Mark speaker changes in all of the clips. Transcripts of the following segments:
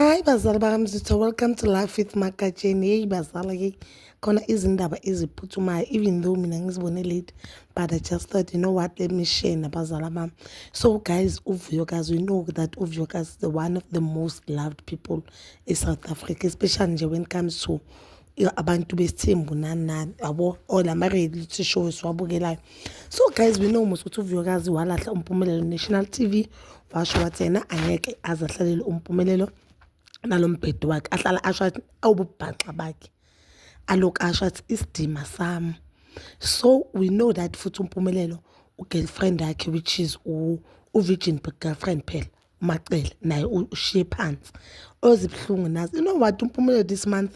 Speaker 1: Hayi bazali bakamzitho welcome to life with magatsheni yeyi bazala yeyi khona izindaba eziphuthumayo even though mina ngizibone late but i just thought you know what let me share nabazala bami so guys uvuyokazi we know that uvuyokazi is the one of the most loved people in south africa especially nje when it comes to abantu besithembu nani nani yabo or la ma-reality show siwabukelayo so guys we know mos ukuthi uvuyokazi walahla umpumelelo national tv washo wathi yena angeke aze ahlalele umpumelelo nalo mbhedi wakhe ahlala asho athi awububhaxa bakhe aloku asho athi isidima sami so we know that futhi umpumelelo ugirlfriend yakhe which is u-virgin girlfriend phela umacele naye ushiye phansi ozibuhlungu nazi you know what umpumule this month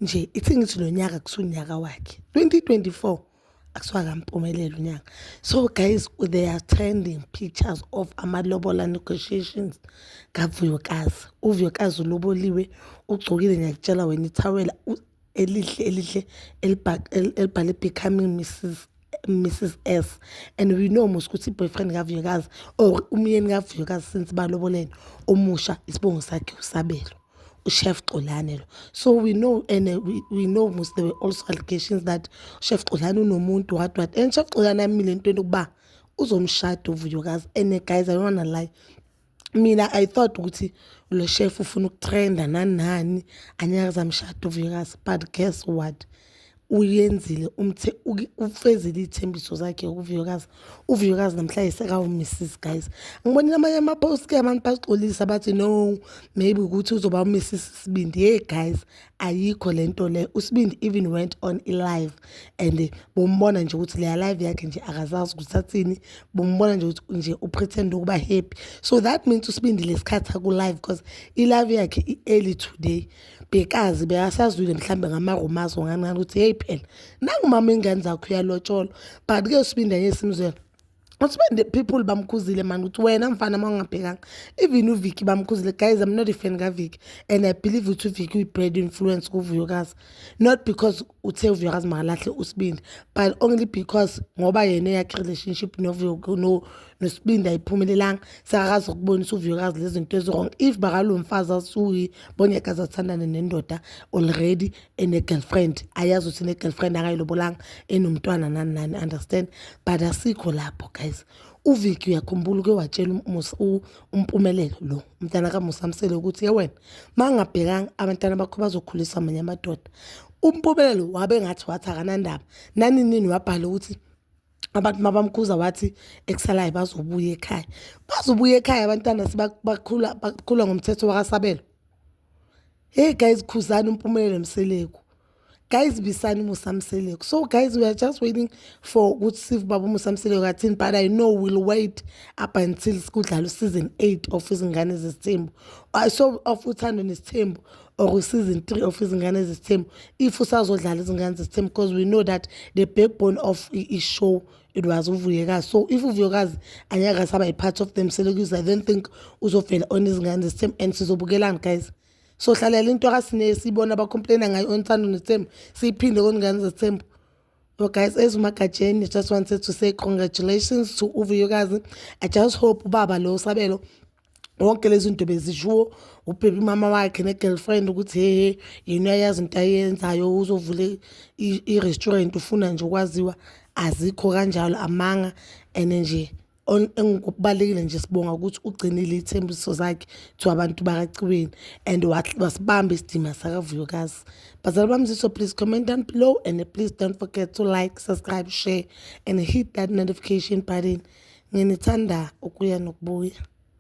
Speaker 1: nje ithi ngithi lo nyaka kusunyaka wakhe 2024 akusiwakampumelelo unyaka so guys they are trending pictures of amalobola negotiations kavuyokazi uvuyokazi uloboliwe ugcokile ngiyakutshela wena ithawela elihle elihle elibhale becoming mrs mrs s and we know mos ukuthi i-boyfriend kavuyokazi or umyeni kavuyokazi since balobolene omusha isibongo sakhe usabelo uChef Xolani lo so we know and uh, we, we know mos there were also allegations that uChef Xolani unomuntu what what and Chef Xolani amile entweni ukuba uzomshada uvuyokazi and uh, guys i don't wanna lie Mina I thought ukuthi lo chef ufuna ukutrenda nani nani angeke aze amshade uVikazi but guess what uyenzile umthe ufezile iy'thembiso zakhe uVikazi. UVikazi namhlanje sekawuMrs guys. Ngibonile amanye ama-post-ke abantu baxolisa bathi no maybe ukuthi uzoba uMrs isibindi. Hey guys ayikho lento le usibindi even went on ilive and bombona nje ukuthi leya live yakhe nje akazazi ukuthi athini bombona nje ukuthi nje upretend ukuba happy so that means usibindi lesikhathi aku live because ilive yakhe i-early today bekazi bekasazwile mhlambe ngamarumazo nganqana ukuthi hey phela nangumama ingane zakho uyalotsholwa but ke usibindi anye simzwela But when the people bamkhuzile man ukuthi wena mfana uma ungabhekanga even uVicky bamkhuzile guys I'm not a fan kaVicky and I believe ukuthi uVicky uyi-bad influence kuVuyokazi not because uthe uVuyokazi makalahle usibindi but only because ngoba yena eyakhe relationship nosibindi ayiphumelelanga sekakazi ukubonisa uVuyokazi lezi zinto eziwrong if bakalomfazi asuyi bonyekazi athandane nendoda already ene-girlfriend ayazi ukuthi ne-girlfriend akayilobolanga enomntwana nani nani understand but asikho lapho guys uviki uyakhumbula uke watshela umpumelelo lo umntana kamusamsele ukuthi ye wena ma ngabhekanga abantwana bakho bazokhulisa amanye amadoda umpumelelo wabe ngathi wathi akanandaba naninini wabhala ukuthi abantu mabamkhuza wathi ekusalayo bazobuya ekhaya bazobuya ekhaya abantwana sibakhula bakhula ngomthetho wakasabelo hey guys khuzani umpumelelo mseleku guys bisani musa mseleku so guys we are just waiting for ukuthi sive baba umusa mseleku athini but i know we'll wait up until kudlala useason eight of izingane zesithembu uh, so of uthando nesithembu or season three of izingane zesithembu if usazodlala izingane zesithembu because we know that the backbone of i-show it was uvuyekazi so if uvuyekazi angeke asaba i-part of them selekuze i don't think uzovela on izingane zesithembu and sizobukelani guys so hlalela into akasine siyibona abacomplaina ngayo onthando nethembu siyiphinde koningane zethembu Well, guys, as Makajeni, I just wanted to say congratulations to Uvuyokazi. I just hope Baba Lo Sabelo wonke lezi zinto bezishiwo ubhebe umama wakhe ne-girlfriend ukuthi hehe yena uyayazi into ayenzayo uzovule i-restaurant ufuna nje ukwaziwa azikho kanjalo amanga and nje engikubalekile nje sibonga ukuthi ugcinile iy'thembiso zakhe to abantu bakaciweni and wasibamba isidima sakavuyokazi bazali bami ziso please comment down below and please don't forget to like subscribe share and hit that notification button nginithanda ukuya nokubuya